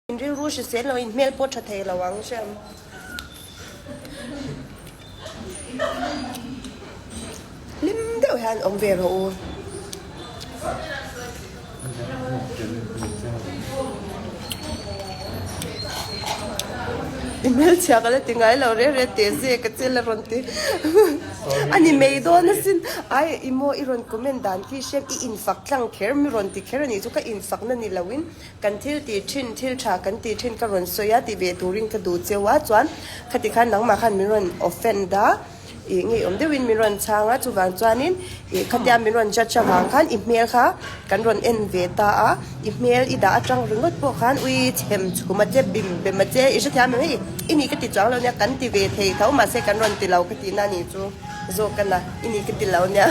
In rilru hrisel lo, in hmel pawh tha thei lo ang che a maw? Hlim deuh hian awm ve rawh u. I hmelchhiak a la ti ngai lo reng reng teh zia ka chel a rawn ti. A ni mei dawn a sin. Ai i maw i rawn comment dan khi hriat i infak tlang kher mi rawn ti kher a nih chu ka infakna ni lo in Kan thil tih thin, thil tha kan tih thin ka rawn sawi a, tih ve turin ka duh cheu a, chuan khati khan nangmah khan min rawn offend a, ih ngeiawm deuhin min rawn chhang a, chuvang chuanin ih khatia min rawn judge avang khan i hmel kha kan rawn en ve ta a, i hmel i dah atang ringawt pawh khan ui chhem chhum a che, bim bem a che, i hrethiam em e, i nih ka ti chuang lo nia, kan ti ve thei tho mahse kan rawn tilo ka tihna nih chu zawk a na, i nih ka tilo nia.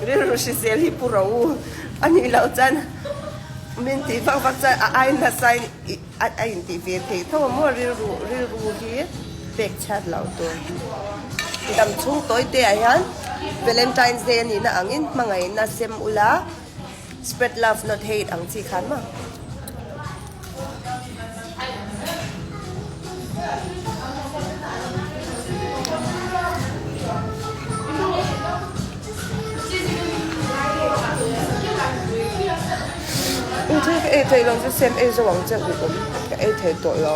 Rilru hri zel hi pu ro u a nih loh chuan min tih vak vak chuan a ai nasa in a in tih ve thei tho maw rilru rilru hi pek chhiat loh tur dam chhungtawite ah hian valentine day a nihna angin hmangaihna sem ula. Spread love not hate ang chi khan maw? Ui thei ka ei thei lo chu sem ei zo ang che ui awm ka ei thei tawh lo.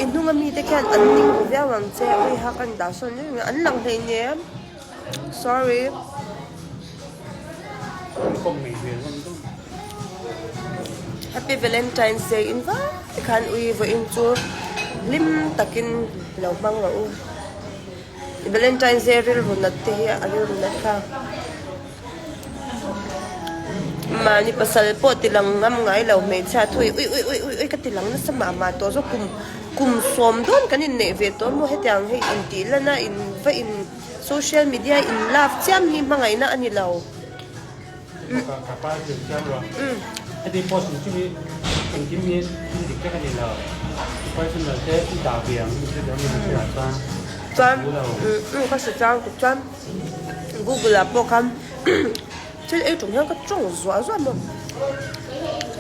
Inhung a mite khian an ning duh viau ang che a awih hak a ni dah sawn zel mai an lang hlei nyeh em. Sorry. Happy Valentine's Day in vai khan ui vaw in chu hlim takin lo hmang lo u. Valentine's Day rilru nat te hi a rilru nat kha. Mahni pasal pawh tilang ngam ngai lo hmeichhia thu hi ui ui ui ui ui ka tilang nasa mah mah tawh zawk kum kum sawm dawn kan inneih ve tawh maw hetiang hei intih lana in va in social media in love chiam hi hmangaihna a ni lo chuan. Google ah pawh khan thil ei tum hian ka tawng zuah zuah maw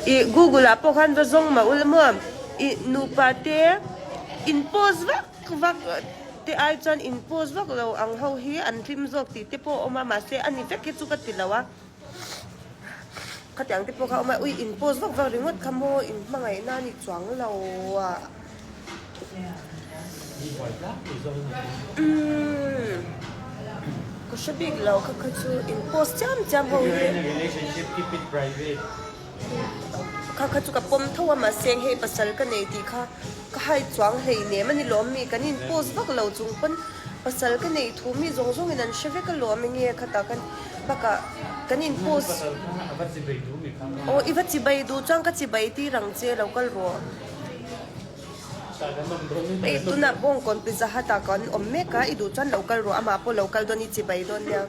i Google ah pawh khan va zawng mah ula maw i nupa te in post vak vak te ai chuan in post vak lo ang ho hi an hlim zawk tih te pawh a awm a mahse a ni vek hi chu ka ti lo a. Khatiang te pawh kha a awm a, ui in post vak vak ringawt kha maw in hmangaihna a nih chuang lo a, umm ka hre bik lo kha kha chu in post chiam chiam ho hi. Kha kha chu ka pawm tho a mahse eng hei pasal ka nei tih kha ka hai chuang hlei nem a ni lawm mi kan in post vak lo chung pawn pasal ka nei thu mi zawng zawng in an hre vek a lawm eng nge kha ta khan bakah kan in post pasal kha a va chibai duh mi kha nga aw i va chibai duh chuan ka chibai tir ang che lo kal rawh hei tunah bawng kawn pizza hut ah kan awm mek a i duh chuan lo kal rawh amah pawh lo kal dawn i chibai dawn nia.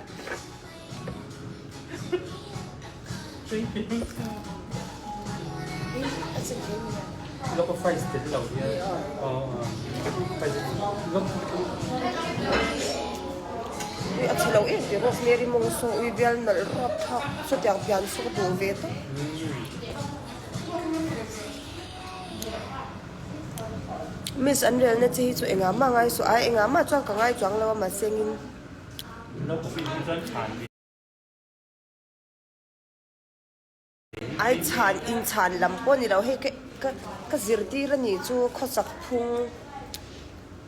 Miss an relna che hi chu engah mah ngai suh a engah mah chuan ka ngai chuang lo a mahse ngin. Ai chhan in chhan lam pawh nilo hei ka zirtir a nih chu khawsak phung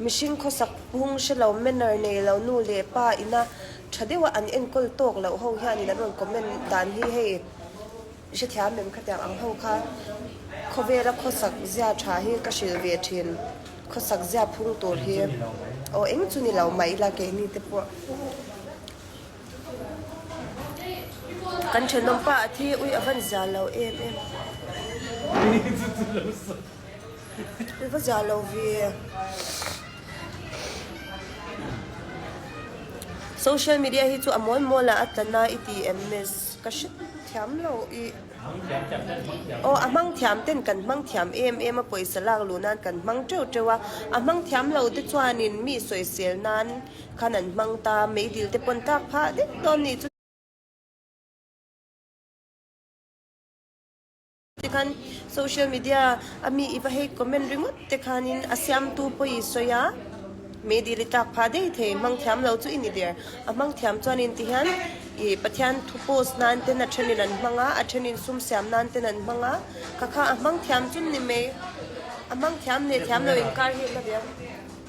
mihring khawsak phung hre lo manner nei lo nu leh pa ina tha deuha an enkawl tawk loh ho hian in an rawn comment dan hi hei. Hrethiam lem kha tiang ang ho kha khawvela khawsak zia tha hi ka hrilh ve thin. Khawsak zia phung tur hi aw eng chu ni lo, mah ila keini te pawh kan thenawm pa a thi ui a van zia lo em em. Social media hi chu a mawl mawl a a tla na i ti em miss ka hre thiam lo i aw a hmang thiam ten kan hmang thiam em em a pawisa lak luh nan kan hmang teuh teuh a a hmang thiam lo te chuan in mi sawi sel nan khan an hmang ta mei dil te pawn tak phah deuh dawn ni chu. Te khan social media a mi i va hate comment ringawt te khanin a siamtu pawh i sawi a, Mehdi ri tlak pha daih thei, hmang thiam lo chu i ni der, a hmang thiam chuan in ti hian i Pathian thu post nan ten a thenin an hmang a, a thenin sum siam nan ten an hmang a, ka kha a hmang thiam chun ni mai, a hmang thiam leh thiam lo inkar hi a hla viau.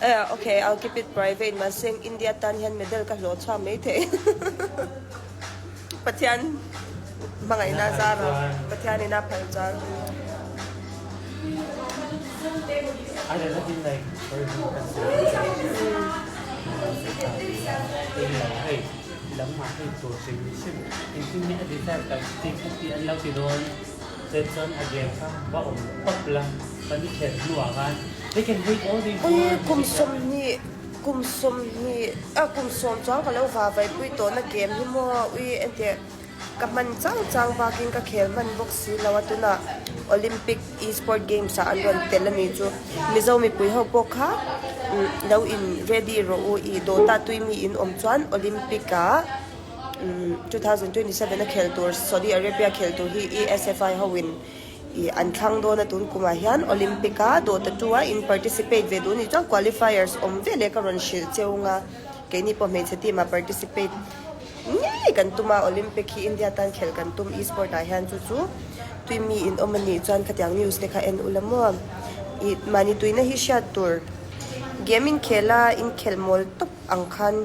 Ea ok, I'll keep it private, mahse India tan hian medal ka hlawh chhuak mai thei. Pathian hmangaihna zar a, Pathianin a phal zar. Chen chuan a gem kha va awm tawp la, pali kher hnu ah khan they can read all these words. Ui kum sawm hnih, kum sawm hnih, ah kum sawm chuan ka lo va vai pui tawh na gem hi maw ui entir ka hman chang chang bak in ka khel hman bawk si lo a tuna Olympic Esport Games ah an rawn tel a nih chu Mizo mipui ho pawh kha umm lo in ready rawh u i dawt a tui mi in awm chuan Olympic ah 2027 a khel tur Saudi Arabia khel tur hi ESFI hoin ih an thlang dawn a tun kumah hian Olympic a dawhta tu a in participate ve duh anih chuan qualifiers awm ve leh ka rawn hrilh che ung a keini pawh hmeichhe team ah participate ngei kan tum a Olympic hi India tan khel kan tum esport ah hian chu chu tui mi in awm anih chuan khatiang news te kha en ula maw ih mahni tuina hi hriat tur gaming khel a inkhelh mawl tawp ang khan.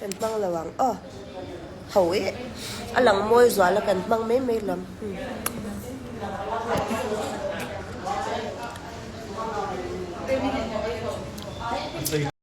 Kan hmang lo ang aw. Ho e. A lang mawi zual a kan hmang mai mai hlawm. Umm.